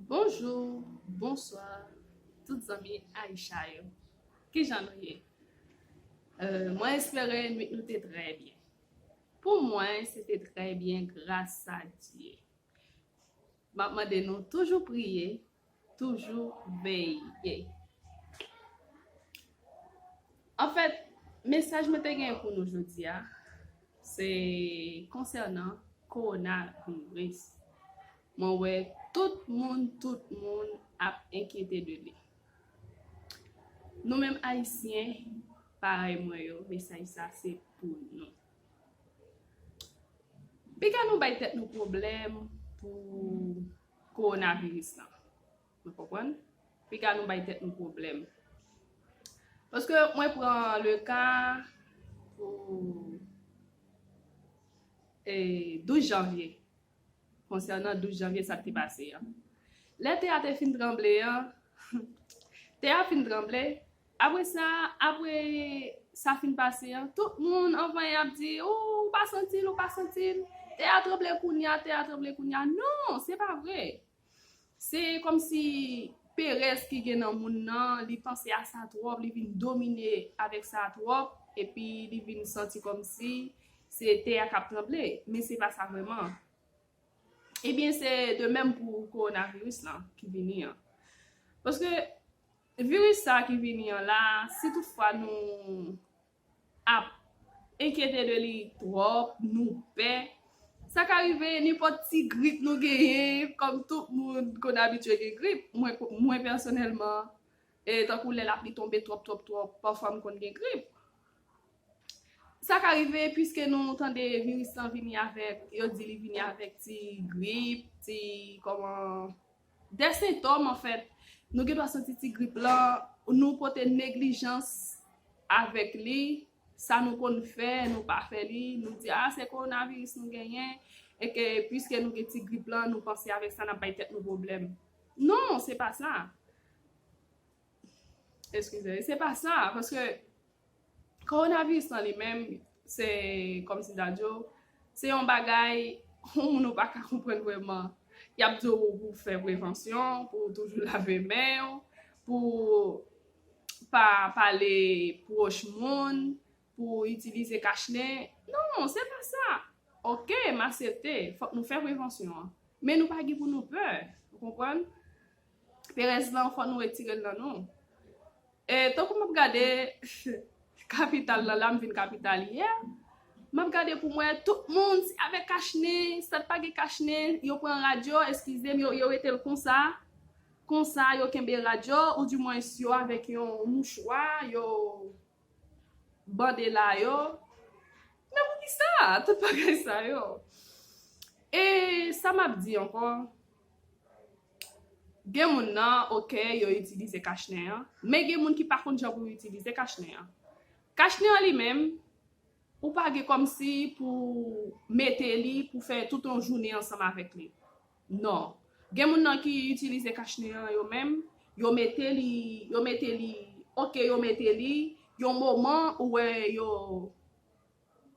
Bonjou, bonswa tout zanmi Aïcha yo Kijan nou ye? Mwen espere nwit nou te trè byen Pou mwen se te trè byen gras a Dye M ap mande nou toujou priye toujou veye. Anfèt, mesaj mwen te genyen pou nou jodi a, se konsènan kowona viris. Mwen wè tout moun, tout moun ap enkyete de li. Nou menm Ayisyen, parèy mwen yo, mesaj sa se pou nou. Piga nou bay tèt nou pwoblèm pou. Kowonaviris lan. Nou konprann? Piga nou bay tèt nou pwoblèm. Paske mwen pran le ka pou 12 janvye. Konsènan 12 janvye sa te pase an. Lè tè a te fin tranble an, tè a fin tranble, Apre sa, apre sa fin pase an, tout moun anvan ap di, Ooh, ou pa santi l, ou pa santi l. Tè a tranble kounye a, tè a tranble kounye a. Non, se pa vre. Se kòmsi perèz ki gen nan moun nan, li panse a sa twòp, li vin domine avèk sa twòp, epi li vin santi kòmsi se tè a k ap tranble. Men se pa sa vrèman. Ebyen, se de menm pou kowonaviris lan ki vini an. Paske, Viris sa ki vini an la, si tout fwa nou ap enkyete de li twòp, nou pè, sa ka rive nenpòt ti grip nou genyen, kòm tout moun konn abitye gen grip, mwen pèsonèlman, tankou lè lapli tonbe twòp twòp twòp, pafwa m konn gen grip. Sa ka rive piske nou tande viris lan vini avèk, yo di li vini avèk ti grip, ti kòman. De sentòm anfèt, nou gendwa santi ti grip lan, nou pote neglijans avèk li, sa nou konn fè, nou pa fè li, nou di a se kowonaviris nou genyen, e ke pwiske nou gen ti grip lan, nou panse avèk sa n ap bay tèt nou pwoblèm. Non, se pa sa. Eskize, se pa sa, paske kowonaviris lan li menm, se kòm si ta di w, se yon bagay yon moun ou pa ka konprann vrèman. Y ap di w pou w fè prevansyon, pou w toujou lave men w, pou w pa pale pwòch moun, pou w itilize kachne. Non, se pa sa. Ok, m asepte, fòk nou fè prevansyon an. Men nou pa gen pou nou pè, ou konprann? Perèz lan fò nou retirel nan nou. E tankou map gade kapital lan la m vin kapital yè map gade poum wè tout moun se avèk kach nen stat pa gen kach nen yo pran radyo eskizem yo retel konsa konsa yo kenbe radyo ou di mwens yo avèk yon mouchwa yo bande la yo men poukisa tout bagay sa yo e sa map di ankò. Gen moun nan ok yo itilize kach nen an, men gen moun ki pa konn jan pou yo itilize kach nen an. Kach nen an li menm, ou pa gen kòmsi pou mete li pou fè tout yon jounen ansanm avèk li. Non. Gen moun nan ki itilize kach nen an yo menm, yo mete li, yo mete li, ok yo mete li, yon moman ou wè yo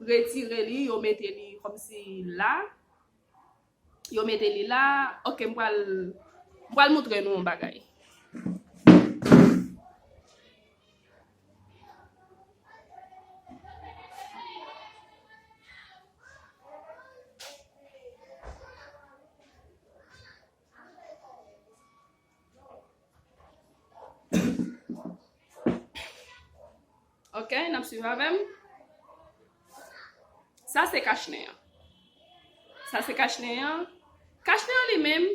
retire li, yo mete li kòmsi la. Yo mete li la. Ok m pral m pral moutre nou yon bagay. Ok nap swiv avèm. Sa se kach nen an. Sa se kach nen an. Kach nen an li menm,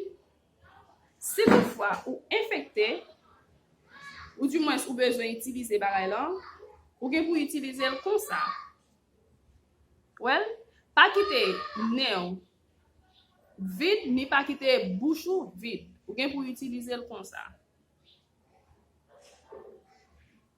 si tout fwa ou enfekte, ou di mwen ou bezwen itilize bagay lan, ou gen pou itilize l konsa. Wèl? Pa kite nen ou vid, ni pa kite bouch ou vid. Ou gen pou itilize l konsa.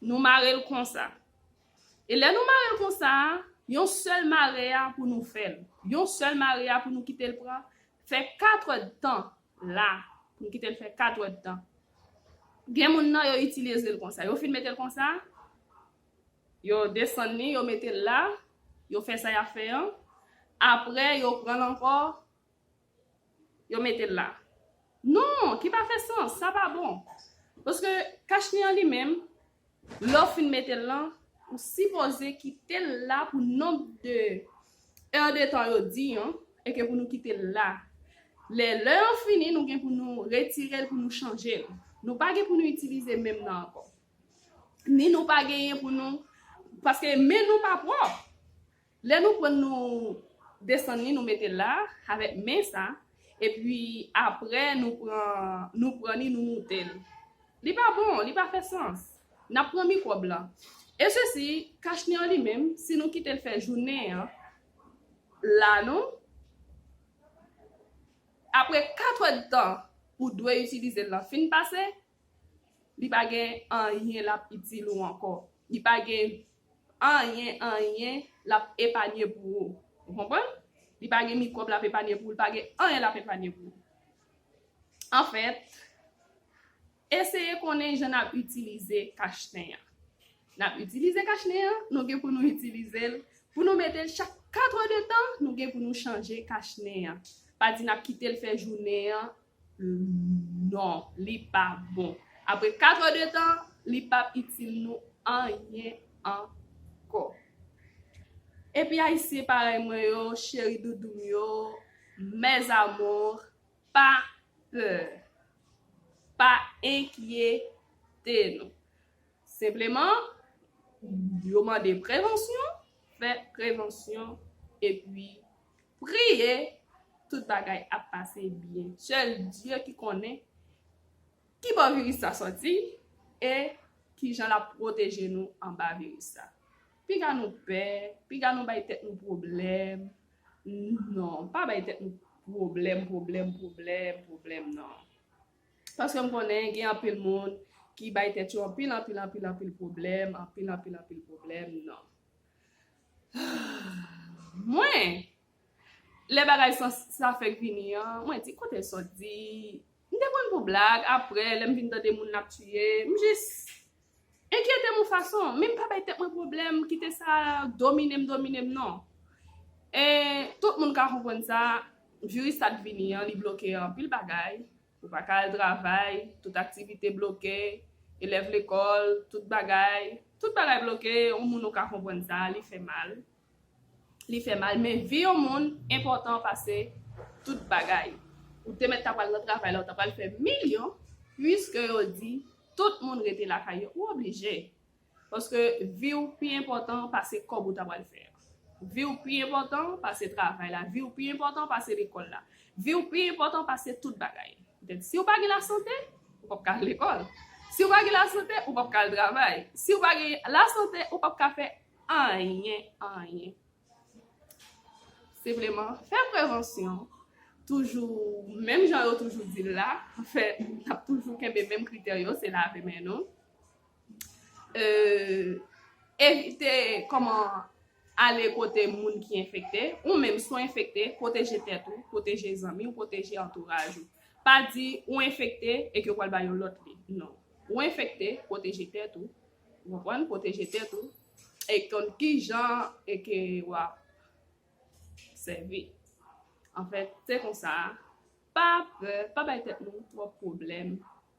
Nou mare l konsa. E lè nou mare l konsa a, yon sèl mare a pou nou fè l. Yon sèl mare a pou nou kite l pran, fè katwèd tan la. Pou nou kite l fè katwèd tan. Gen moun nan yo itilize l konsa. Yo fin mete l konsa, yo desann li, yo mete l la, yo fè sa y ap fè an. Apre, yo pran l ankò, yo mete l la. Non, ki pa fè sans, sa pa bon. Paske kachni an li menm, lè w fin mete l lan, ou sipoze kite l la pou nonb de è de tan yo di an, e ke pou nou kite l la. Lè lè an fini, nou gen pou nou retire l pou nou chanje l. Nou pa gen pou nou itilize menm nan ankò. Ni nou pa genyen pou nou, paske men nou pa pwòp. Lè nou prann nou desann li nou metel la avèk men sa epi aprè nou pran nou pran li nou moutel li pa bon li pa fè sans nap pran mikwòb lan e sesi kachni an li menm si nou kitel fè jounen an la nou aprè 4 òd tan ou dwe itilizel lan fin pase. Li pa gen anyen lap itil ou ankò. Li pa gen anyen anyen lap epanye pou ou. Ou konprann? Li pa gen mikwòb lap epanye pou ou, li pa gen anyen lap epanye pou ou. Anfèt, eseye konnen jan nap itilize kach nen an. Nap itilize kach nen an, nou gen pou nou itilize l, pou nou mete l chak 4 è de tan, nou gen pou nou chanje kach nen an. Pa di nap kite l fè jounen an, Non li pa bon. Apre 4 heures de tan li pap itil nou anyen ankò. Epi ayisyen parèy mwen yo cheri doudoum yo mes amours pa pè pa enkyete nou senpleman yo mande prevansyon fè prevansyon epi Priye tout bagay ap pase byen. Sèl Dye ki konnen ki bò viris sa sòti e kijan lap pwoteje nou anba viris sa. Piga nou pè, piga nou bay tèt nou pwoblèm non. Pa bay tèt nou pwoblèm, pwoblèm, pwoblèm, pwoblèm non. Paske m konnen gen anpil moun ki bay tèt yo anpil, anpil, anpil, anpil pwoblèm, anpil, anpil, anpil pwoblèm non. Mwen! Lè bagay sa sa fèk vini an, mwen di kote sòt di, m te pran l pou blag, aprè lè m vin tande moun ap tiye, m jis enkyete m yon fason, men m pa bay tèt mwen pwoblèm, m kite sa domine m, domine m non. E tout moun ka konprann sa, viris sa t vini an li bloke anpil bagay, Ou pa ka al travay, tout aktivite bloke, elèv lekòl, tout bagay, tout bagay bloke, yon moun ou ka konprann sa, li fè mal, li fè mal, men vi yon moun enpòtan pase tout bagay. Ou te mèt ta pral nan travay la, ou ta pral fè milyon, puiske yo di tout moun rete lakay yo, ou oblije. Paske vi w pi enpòtan pase kòb ou ta pral fè a. Vi w pi enpòtan pase travay la. Vi w pi enpòtan pase lekòl la. Vi w pi enpòtan pase tout bagay. Petèt si w pa gen lasante, ou p ap ka al lekòl. Si w pa gen lasante, ou p ap ka al travay. Si w pa gen lasante, ou p ap ka fè anyen, anyen. Senpleman, fè prevansyon. Toujou, menm jan yo toujou di l la, fè, n ap toujou kenbe menm kritè yo, se lave men nou. Evite kòman ale kote moun ki enfekte, ou menm si w enfekte, pwoteje tèt ou, pwoteje zanmi w, pwoteje antouraj ou. Pa di ou enfekte e ke w pral ba yon lòt li, non. Ou enfekte, pwoteje tèt ou, ou konprann, pwoteje tèt ou, e konn ki jan e ke w ap sèvi. Anfèt, se konsa, pa pè, pa bay tèt nou twòp pwoblèm